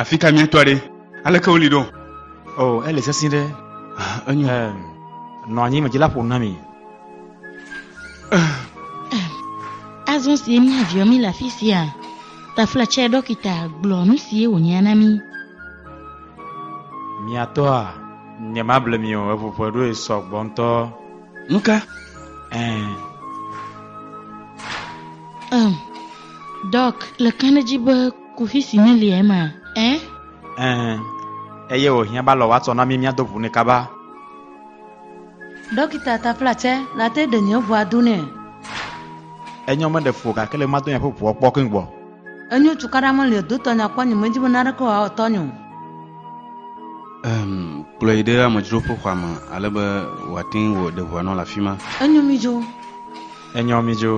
Afi ka míatɔ ɖe? Aleke woli ɖo? O, oh, ele sesẽ ɖe. Ah, enyo. Um, nɔ anyi me dzila ƒo na mi. Azɔ si mía viɔ mi le afi sia. Tafla tsɛ ɖɔkita gblɔ nu si wònya na mi. Miatɔa, nyemable mi o, eŋuƒe ɖoe sɔ gbɔ ŋutɔ. Nu ka? Ɛɛ. Um, Doc, le ka ne dzi be kuxi si neli ema? Ɛ? Ɛɛ. Eye wòhiã ba lɔ woatsɔ na mí míado ʋu nɛ kaba. Dɔkita tapla tsɛ, nate ɖe nye ʋua do nɛ. Enyɔ meɖe fu o gake le madon yeƒe ʋua kpɔ keŋ gbɔ. Enyo cukaɖa meli o, do tɔnye akpɔ nye medzi be naneke wòawɔ tɔnye o. Em, kplɔe ɖe amedzroƒe xɔa me ale be wòate ŋu wɔ ɖe ʋua nɔ le afi ma. Enyo mi dzo. Enyo mi dzo.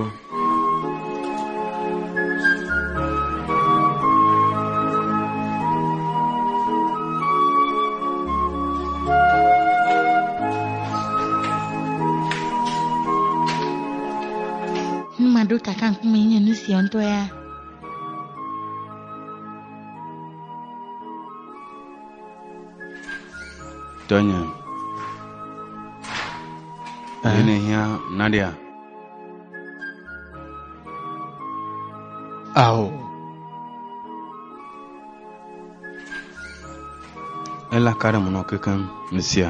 Nu maɖo kaka ŋku me nye nu sia ŋutɔ ya. Tɔnye. Ye ne hiã Nadia. Ao. Ela ka ɖe mo nɔ kekeŋ nu sia.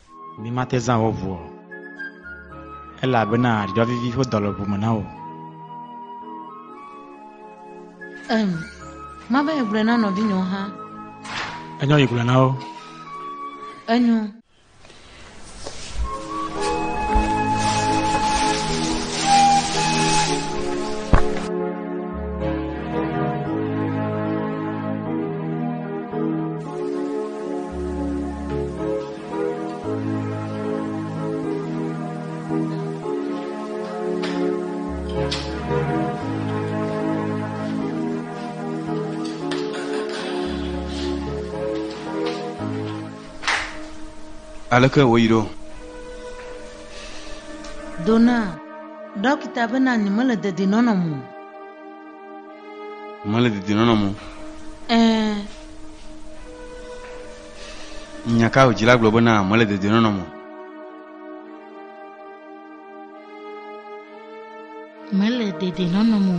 Mimate zã wò ʋu o, elabena dɔ vivi ƒe dɔ le ʋu me na wò. Em, mava yi gblɔe na nɔvinyewo hã. Enyo yi gblɔ na wo. Enyo. Aleke wòyi ɖo? Dona, ɖɔkita bena nyemele dedienɔnɔ me o. Mele dedinɔnɔ mo. Ɛɛ. Nya ka wòdzila gblɔ be na mele dedinɔnɔ mo? Mele dedinɔnɔ mo.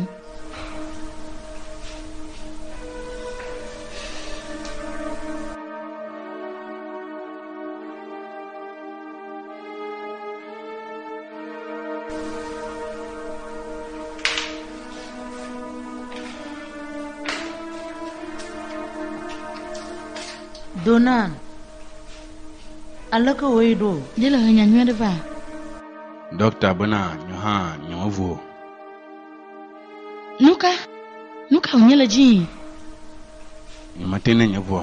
Donan, aleke wòe ɖo? Ɖe le henya nyui aɖe va? Dɔkta bena nyo hã nyemevo. Nu ka? Nu ka wònye le dzii? Nyemete ne nye ŋua.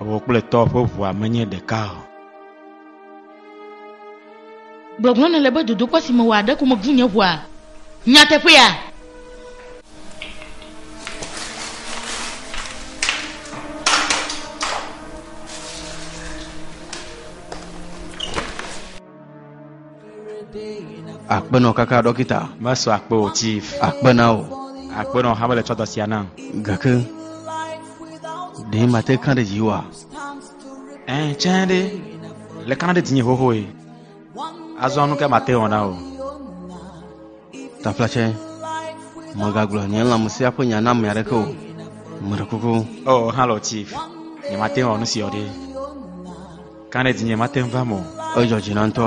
Ewo kple tɔ ƒe ʋua menye ɖeka o. Gbɔgblɔ nèle be dodokpɔ si mewɔa ɖe ko mebu nye ʋua nyateƒea? Akpenɔ kaka ɖɔkita. Mesɔ akpe o chief. Akpe na o. Akpenɔ hame le tsɔ dɔ sia nam. Gake ɖe mate kã ɖe dzi wa? Ɛɛ, tsɛ ɖe, le kana ɖe dzinye xoxoe. Azɔ nu ka mate wɔ na o. Tafla tsɛ, mègagblɔ nye lãmesẽa ƒe nya na ame aɖeke o. Meɖe kuku. O, halɔ Chief, nyemate wɔ nu si wɔ ɖe. Kana ɖe dzinye mate ŋu va me o. Edzɔ dzi na ŋutɔ.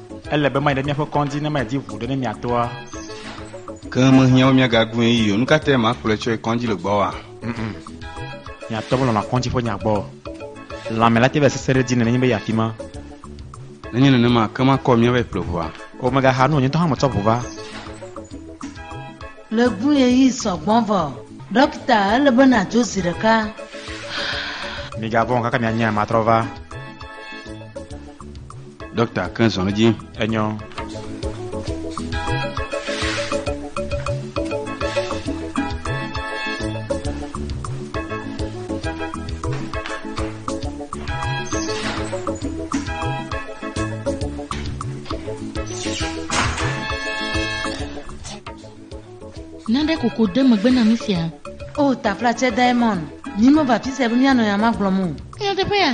Ele be mayi ɖe míaƒe kɔndzi ne medi ʋu ɖe ne miatɔa. Ke mehiã be míagagblɔe yi o. Nu ka tae makplɔe tsɔe kɔndzi le gbɔwòa? Miatɔ melɔ̃na kɔndzi ƒe nya gbɔ. Lãme la te be sesẽ ɖe edzi nenye be yeafi ma. Nenye nenema, ake makɔ míavae kple ʋua. O, megaha nu o, nye ŋutɔ hã metsɔ ʋu va. Le ɣeyiɣi sɔ gbɔ vɔ. Ɖɔkita, ele be nàdzo zi ɖeka. Migavɔ̃ o, kaka mianye, matrɔ va. Dɔkta ke zɔn edzi. Enyɔ. Nane koko de megbe na mi sia. O tafla tsɛ Diamond, nyi meva fisia be mianɔ ya magblɔm o. Nyateƒe ya.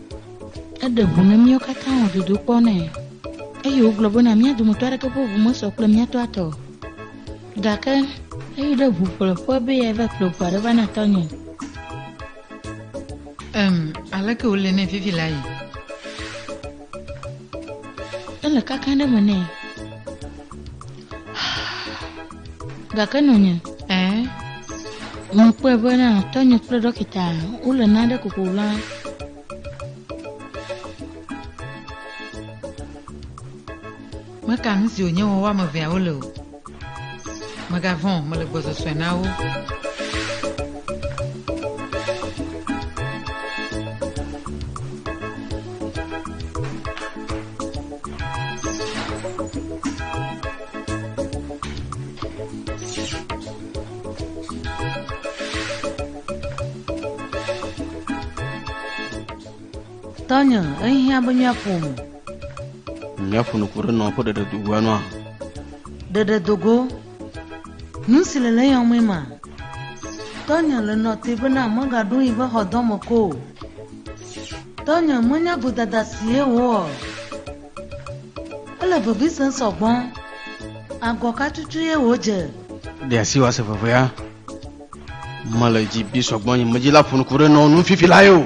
Eɖe ŋu na míawo katã wɔ dodokpɔ nɛ, eye wògblɔ bena mía dometɔ aɖeke ƒe ŋu mesɔ kple mía tɔa tɔ o. Gake eyi ɖe ŋu ƒle ƒua be yeava ƒle ŋu aɖe va na tɔnye. Em, aleke wòle nɛ vivi la yi? Ele kakã ɖe me nɛ. gake nɔnye ɛɛ mekpɔe be na tɔnye kple ɖɔkita wole nane koko la meka nu si wònye wɔwɔ ame eveawo le o megavɔ̃ mele gbɔsɔsɔe na wo Tɔnye, ehiã be míaƒo nu. Míaƒo nu ku ɖe nɔ ƒe ɖeɖedogoa nua. Ɖeɖedogo Nu si le le yɔ mɔe ma. Tɔnye le nɔ te bena megaɖo yi ƒe xɔdɔ me ko o. Tɔnye menya godada si ye wò o. Ele vevi sem sɔ gbɔ. Agɔ ka tutu ye wò dze? Ɖe asi wòase vevea. Mele dzi bi sɔgbɔ nye medzi la ƒo nu ku ɖe nɔwo nu fifi lae o.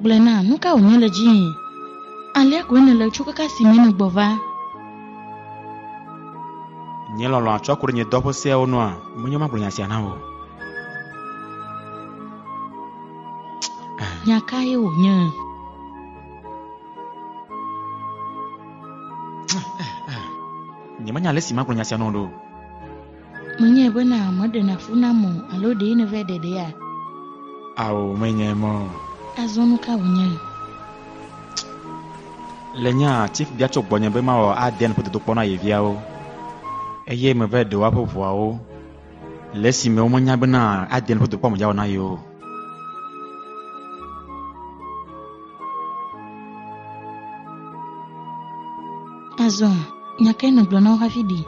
Gblɔe na, nu ka wònye le dziwò? Alea koe nèle tso keke si mee nègbɔ va. Nye lɔlɔ̃ atsɔ ku ɖe nye dɔ ƒe seawo nua? Menye magblɔ nya sia na wò. Nya kae wònye? Nyemenya ale si magblɔ nya sia na wò ɖo. Menyae bena meɖena fu nam o alo ɖee nèva ɖeɖea? Ao, menyae mɔ. Azɔ nu ka wònye? Le nya si bia tso gbɔnye be mawɔ adea nuƒo dodokpɔ na ye viawo eye meva ɖe woaƒe ʋuawo le esime womenya bena adea nuƒo dodokpɔ amedzawɔ na ye o. Azɔ, nya kae nègblɔ na wo hafi ɖi?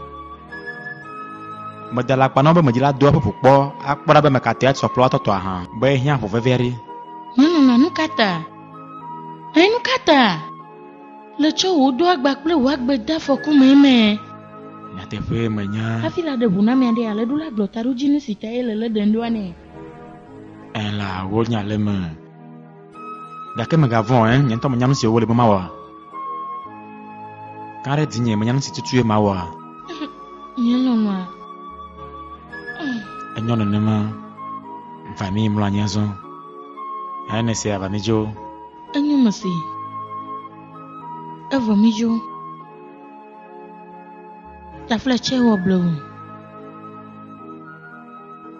Meda le akpa na wo be medzila doa ƒoƒo kpɔ akpɔ ɖa be ame ka tae atsɔ kplɔ atɔtɔ ahã be ehiã ʋu vevi aɖi. Nyɔnunɔ, nu ka ta? Ẽ, nu ka ta? Le tsɔ wò ɖo agba kple wò agbe de afɔku mee mɛ. Nyateƒee menya. Hafi la ɖe ŋu na ame aɖe, alẽɖula gblɔ taɖodzinu si tae le lé ɖem ɖoa nɛ. Ela wo nya le me. Gake mègavɔ̃ ɛ, nye ŋutɔ menya nu si wole be mawɔ. Ka ɖe dinye menya nu si tutue mawɔ. Nye lɔlɔ̃a. Enyɔ nenema. Va mi mlɔ anyi azɔ. Eye ne se ava mi dzo. Enyo me si. Evɔ mi dzo. Tafletsɛ wɔ blewu.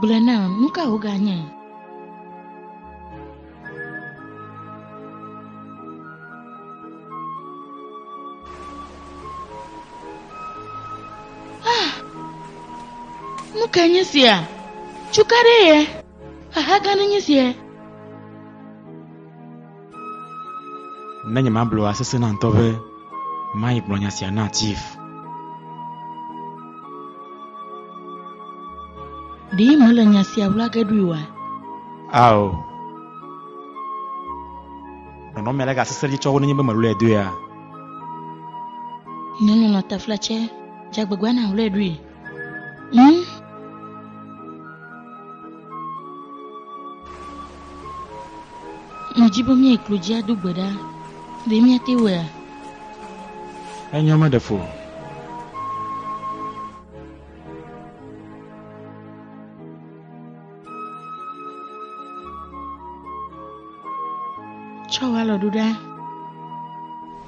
Gblɔe nam, nu ka woganye? Ah, nu ka nye sia? Cukaɖe ye? Xaxa gã ɖe nye sia? Ne nye ma blɔa sese na ŋutɔ be mayi gblɔ nya sia na chief. Ɖi mele nya sia wla ge ɖui wa? Ao. Nɔnɔ mele ga sese dzi tsɔ wo nenye be melu edoe a. Nɔnɔ nɔ tafla tsɛ, dzagbegba na wla ɖui. Hm? Medi be míayi klo dzi ado gbe ɖa. Ɖe míate wɔea? Enyɔ meɖe fu o. Tsɔ wò alɔ ɖo ɖa.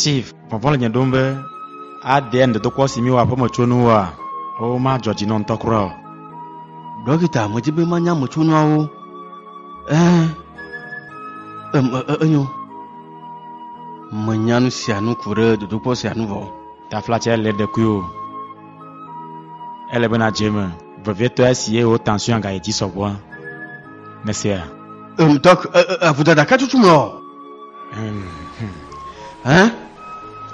chief vɔvɔ le nye ɖom be aɖe ŋdedokɔ si mi wɔ aƒeme tso nu wa o madzɔ dzi nɔ ŋutɔ kura o dɔkita medzi be manya me tso nuawo ɛ em e- e- enyo menya nu sia nu ku ɖe dodokpɔ sia nu vɔ Taflatse le ɖekuiwò. Ele be nadze eme vevietɔ esi eye wò tension gayi dzi sɔgbɔa? Nèsea? Em, Doc, e, e, e, vodada ka tutum le ɔ? Em, hm. Hã?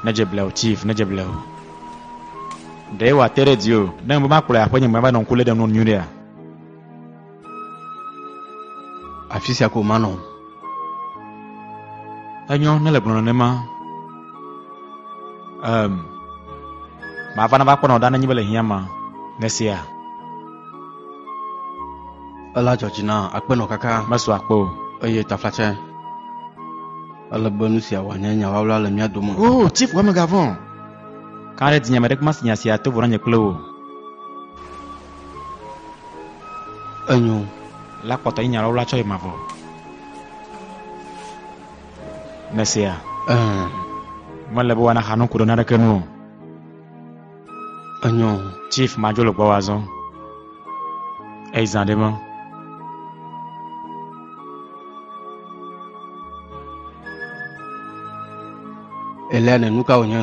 Nedze bleo, Chief, nedze bleo. Ɖee wòate ɖe dziwò ne mebe makplɔe aƒenye me ava nɔ ŋku lém ɖe nuwo nu nyuiɖea? afi sia ko manɔ enyɔ ne le gblɔnɔ nema um, mava nava kpɔnɔ ɖa nenyi be le hiã ma nesia ela dzɔdzi na akpenɔ kaka mesu akpe o eye taflatsɛ ele be nu sia wòanye nyawawla le mía dome o oh, chief wamegavɔ kan ɖe dinye ame ɖe kuma si nya sia to vɔ na nye kple wò Enyo. La kpɔtɔ yi nyalɔ wla tsɔ yi mavɔ. Nèsea? Ɛɛ. Mele be woana xanu ku ɖe naneke nu o. Enyo. Chief madzo le gbɔwò azɔ. Eyi zã ɖe me. Eliane, nu ka wònye?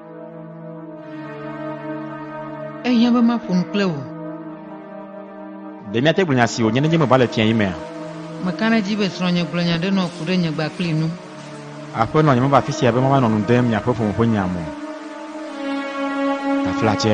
Ehiã be maƒo nu kple wò. Ɖe míate gblɔ nya si wònye nenye meva le fiẽɣi mea? Meka ɖe edzi be srɔ̃nye gblɔ nya ɖe nɔ ku ɖe nye gbakpli nu. Aƒenɔ, nyemeva afi sia be mava nɔ nu dem miaƒe ƒome ƒe nya me o. Taflatse.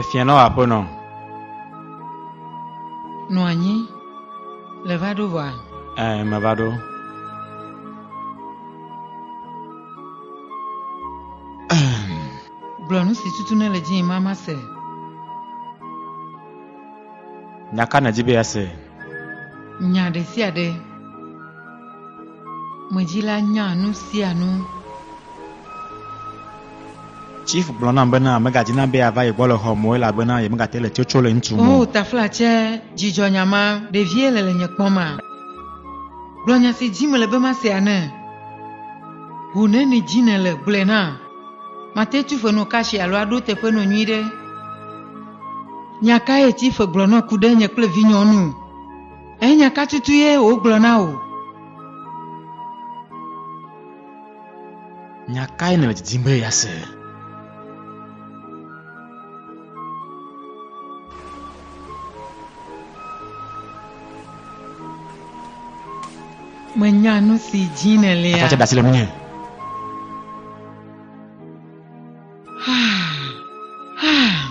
Efia nɔ aƒe nɔ. Nɔ anyi le va ɖo vɔa? Ɛ me va ɖo. Gblɔ nu si tutu ne le dzii mama se. Nya ka nèdi be yease? Nya ɖe sia ɖe. Medzila nya nu sia nu. Chief gblɔ nam bena megadina be yeava ye gbɔ le xɔ me o elabena yemegate le tsotso le ŋutu me o. O taflatsɛ, dzidzɔ nya ma, ɖevie le le nye kpɔm ma. Gblɔ nya si dim mele be masea ne. Ʋu neni dim nèle, gblɔe na. Mate tu fe nɔ kashi alo aɖo teƒe nɔ nyuiɖe. Nya kae Chief gblɔ nɔ ku ɖe nye kple vinyɔnu? Eye nya ka tutu ye wògblɔ na wò? Nya kae nèle didim be yease? Menya nu si dim nèlea. Aƒetɔ tse ɖe asi le ŋunye.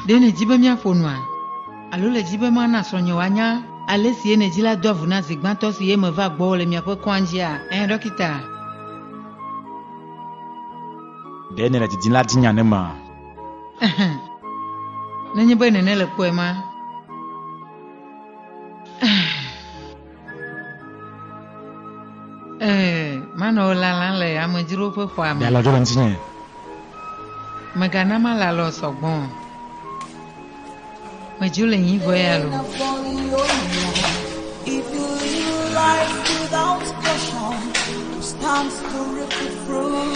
Ɖe nèdi be míaƒo nua? Alo le di be mana srɔ̃nye wòanya ale si ene dzila doa vu na zi gbãtɔ si eme vaa gbɔwò le miaƒe kɔadzia? Ẽ, ɖɔkita. Ɖe nèle didim la di nya ne ma? Ɛhɛ. Nenye be nène le kpɔe ma. Ɛhɛ. Ee, manɔ lalam le amedzro ƒe xɔa me. Mialɔ dzo ɖe ŋutinye. Megana malalɔ sɔgbɔ. Medzo le nyi vɔ ya lo. If you live life without caution, you stand to reap the fruit.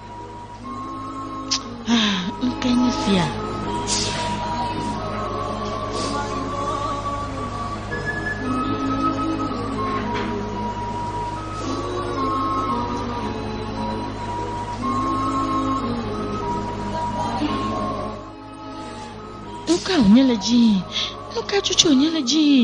Ah, ŋke nye sia. Nuka wònye le dzii? Nuka cucu wònye le dzii?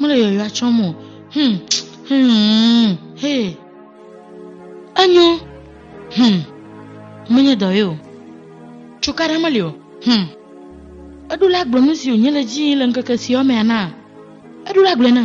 Mele yɔyɔa tsɔm o. Hmm. Hmm. Hey. Enyo. Hmm. Menye dɔ ye o. Tsoka ɖe meli o. Hmm. Eɖo la gblɔ nu si wònye le dzi le ŋkeke siawo mea na. Eɖo la gblɔe na.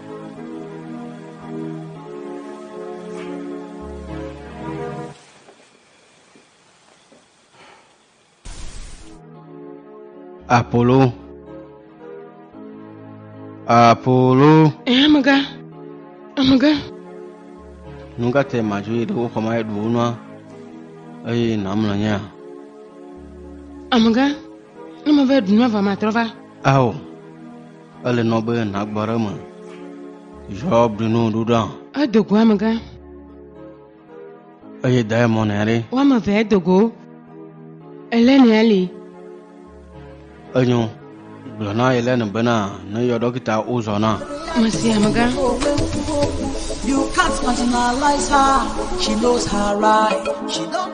Apollo. Apollo. Eh, amega. Amega. Nu ka te madzo yi ɖe wo xɔma ɖu wo nua eye nàmlɔ nyea? Amega, ne meva ɖu nua va matrɔ va. Ao. Ele nɔ be nàgbɔ ɖe me. Zɔ blinu ɖuɖa. Edogo amegã. Eye da emɔ nɛ ɖe. Woame eve edogo. Ele nɛ ali. Enyo. Gblɔ na ele ne bena ne yɔ dɔkita wozɔ na. Mesi amegã. You can't marginalize her. She knows her right. She don't.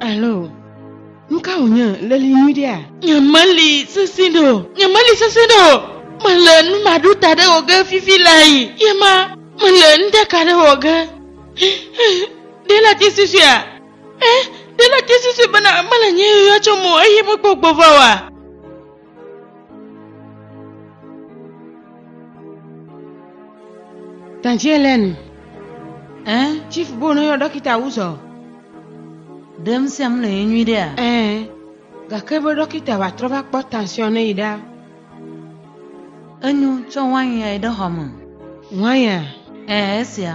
Alo, nu ka wònye? Leli nyuiɖea? Nyemeli sesẽ ɖe o. Nyemeli sesẽ ɖe o. Mele nu maɖo ta ɖe wò ge fifi lae. Ye ma, mele nuɖeka ɖe wɔ ge. Ɖe ele te susuea? Ẽ, ɖe ele te susue bena mele nye yɔyɔ tsom o eye mekpɔ gbɔva oa? Tantielen, ɛɛ, chief bono yɔ dɔkita wuzɔ. Ɖe ŋusẽm le ye nyui ɖea? Ɛɛ, gake be dɔkita va trɔ va kpɔ tansiɔn ne yi ɖa. Enyo, tsɔ wain ya yi ɖe xɔ me. Wain ya? Ɛɛ, esia.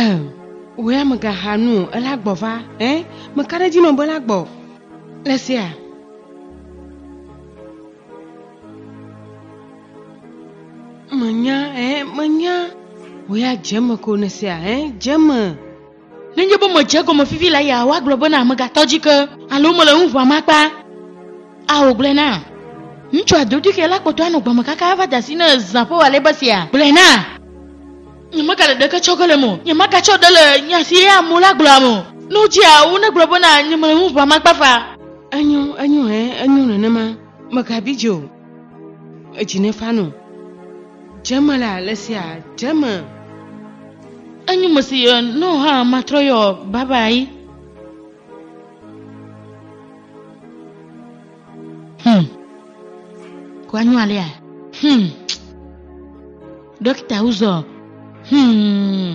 Ɛɛ, wò ya mègaxa nu o, ela gbɔ va. Ɛɛ, meka ɖe edzi nɔ be ela gbɔ. Le sea? Menya, ɛɛ, menya. Wò ya dze eme ko ne sea, ɛɛ, dze eme. Nenye be medze egɔme fifi la ya woagblɔ bena megatɔ dzi ke alo mele nu ʋãm akpa. A Wògblɔe na. Ŋutsua dodoexɛ la kpɔtɔ anɔ gbe me kaka ava de asi ne zã ƒe walɛ̃be sia. Gblɔe na. Nyemegale ɖeke tsɔ ge le eme o. Nyemagatsɔ ɖe le nya si ɣea mo la gblɔam o. Ne wodzea wo negblɔ bena nyemele nu ʋãm akpa fa. Enyo, enyo, ɛ̃, enyo nenema. Megabi dzi o. edzi ne fanɔ dzeme le ale sia dzeme enyi me si yɔ no ha matrɔ yɔ baba yi hmm ko anyo alia hmm dókítà wúzọ hmm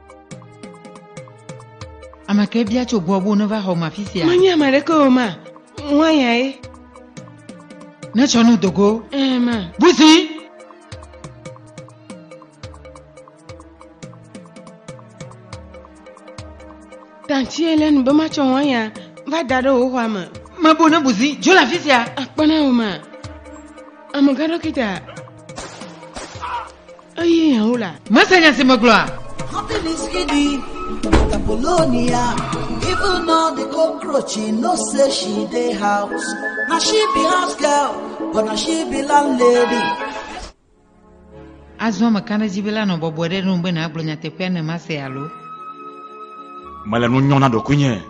Ame ke bia tso gbɔ bo neva xɔ ma fi sia. Menye ame ɖeke o ma. Ŋuanya ye. Ne tsɔ nu dogo. Ee ma. Buzi. Tanti ele nu be matsɔ ŋuanya va da ɖe wò xɔa me. Mebo ne buzi dzo le afi sia. Akpɔ na wò ma. Amega dɔkita. Eye hã la. Mese nya si megblɔa? Happiness Kidi, Apollonia, even now the cockroach, she no say she dey house. Now she be house girl, but now she be landlady. Azɔ mekana edzi be la nɔ bɔbɔe ɖe nu be nàgblɔ nyateƒea ne mase alo. Mele nu nyɔm na ɖokuinye.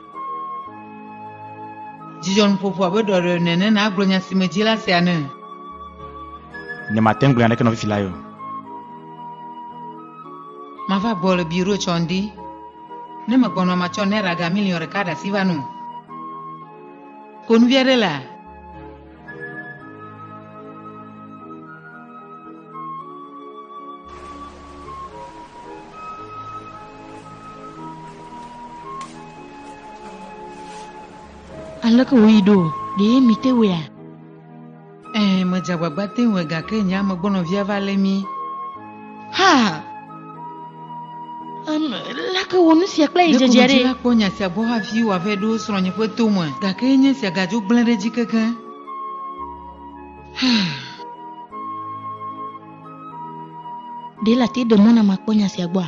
Dzidzɔnuƒoƒo abe ɖɔɖɔe ene ne nàgblɔ nya si medzi la sea ne. Ne mate ŋu gblẽ aɖeke nɔ fifi la yo. Mava gbɔ le biro tsɔ ŋdi. Ne megbɔnɔ matsɔ naira ga miliɔn ɖeka ɖe asi va nu. Konuvi aɖe la. Aleke wòyi ɖo? Ɖee mìte wɔea? Ɛɛ, medze agbagba te ŋue gake nye amegbɔnɔvia va lé mí. Ha! Um, lake wɔ nu sia kple yi dzedze ɖe. Ɖeko kpɔ nya sia gbɔ hafi wòavɛ ɖo srɔ̃nye ƒe tome, gake enye sia gadzo gblẽ ɖe dzi kekeŋ. Ɖe la te ɖe mɔ na makpɔ nya sia gbɔa?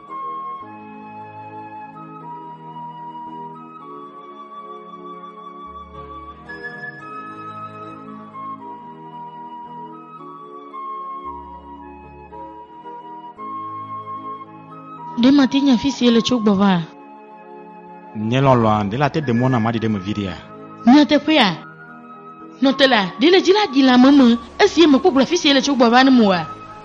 Ɖe mate nya afi si ele tso gbɔ va? Nye lɔlɔ̃a, ɖe la te de mɔ nam aɖi ɖe eme viɖea? Nyateƒea, nɔtela, ɖe le dzi la ɖi le ame me esi ye mekpɔ gblɔ afi si ele tso gbɔ va nam oa?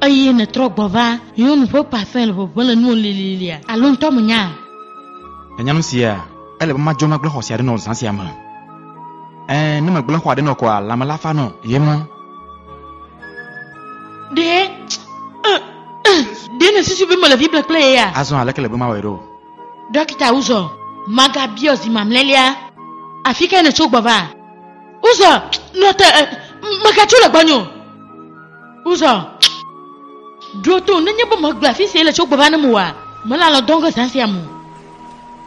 Eye nètrɔ gbɔ va nyɔnu ƒe ƒãfẽ le ʋeʋẽ le nuwò lililia, alo ŋutɔ mènyaa? Ènya nu sia? Ele be madzɔ magblẽ xɔ sia ɖe nɔ zã sia me. Ẽ, ne megblẽ xɔa ɖe nɔ kɔa, lãme la fa nɔ ye ŋu. Ɖe, ẽ, ẽ, ɖe nèsusu be mele vi ble kple ye ya? Azɔ aleke le be mawɔe ɖo? Ɖɔkita Uzor, magabiɔ zi mamlɛlia, afi kae nètso gbɔ va? Uzor, nɔ te, ẽ, megatso le gbɔnye o. Uzɔ, ɖo to, nenye be megblɔ afi si ele tso gbe va ne mewɔa, mele alɔ dɔm ke zã sia me o.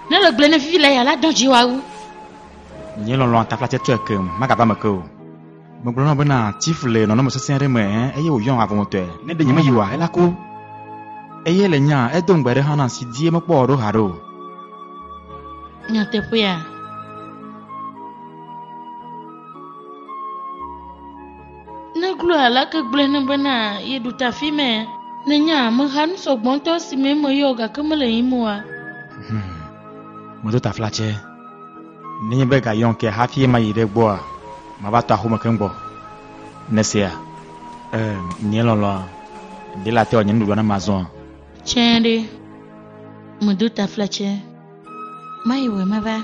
Ne le gblɔe ne vivi la ya la dɔ dzi wa wu. Nye lɔlɔ̃a tafla tsɛ tɔe ke magava eme ke o. Megblɔ na wò bena Tiff le nɔnɔme sesẽ aɖe me eye wòyɔm avɔmetɔe. Ne ɖe nyemeyi oa, ela ku. Eye le nyaa, edo ŋugbe aɖe hã nam si die mekpɔ o ɖo haɖe o. Nyateƒea? Neglo alake gblɔe ne bena yeɖu ta fi mɛ. Nenye ameha nu sɔgbɔ ŋutɔ si me meyɔ o gake mele yim oa? Hmm. Medo taflatsɛ. Nenye be ga yɔm ke hafi mayi ɖe gbɔa, mava tɔ axome keŋ gbɔ. Nèsea? Ee, nye lɔlɔ̃a. Ɖe late wòanye nuɖuɖua ne mazɔa? Tsɛɖe. Medo taflatsɛ. Mayi wòe meva.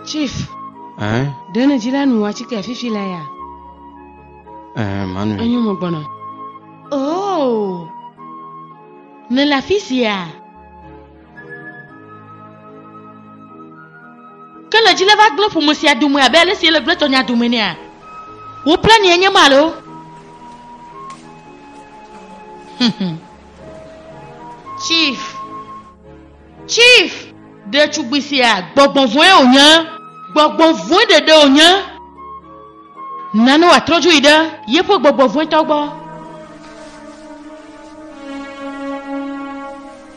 Chief, Ɛɛ, ɖe ne dzila nu atike fifi la ya? ɛɛ, manu. Enyo mo gbɔna. Oh! Nèle afi sia? Ke le dzi le va gblẽ ƒome sia dome abe ale si ele gblẽ tɔnya dome nea? Wò kple ni enye ma loo. Chief. Chief. Ɖetugbui sia, gbɔgbɔ vɔ̃e wònye. Gbɔgbɔ vɔ̃e ɖeɖe wònye. Nane wòatrɔ dzo yi ɖe yeƒe gbɔgbɔ vɔ̃etɔ gbɔ.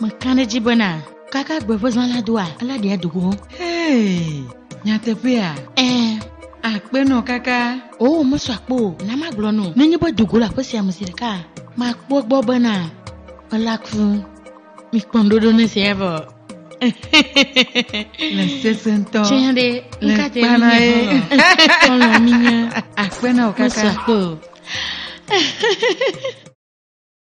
Meka ɖe edzi bena kaka gbe ƒe zã la doa, alé ɖe ado go. Hee, nyateƒea? Ɛɛ, akpe nɔ kaka. Oo, mesɔ akpe o. Na magblɔ nɔ. Nenye be do go le aƒe sia me zi ɖeka, makpɔ egbɔ bena ela ku. Mikpɔ ŋuɖoɖo ne esia vɔ. Le sese ŋutɔ. Tsɛ ɖe, Le ŋka te kpana minye ye. xɔlɔ. Xɔlɔ minye. Akpe nɔ Mesɔ kaka. akpe o.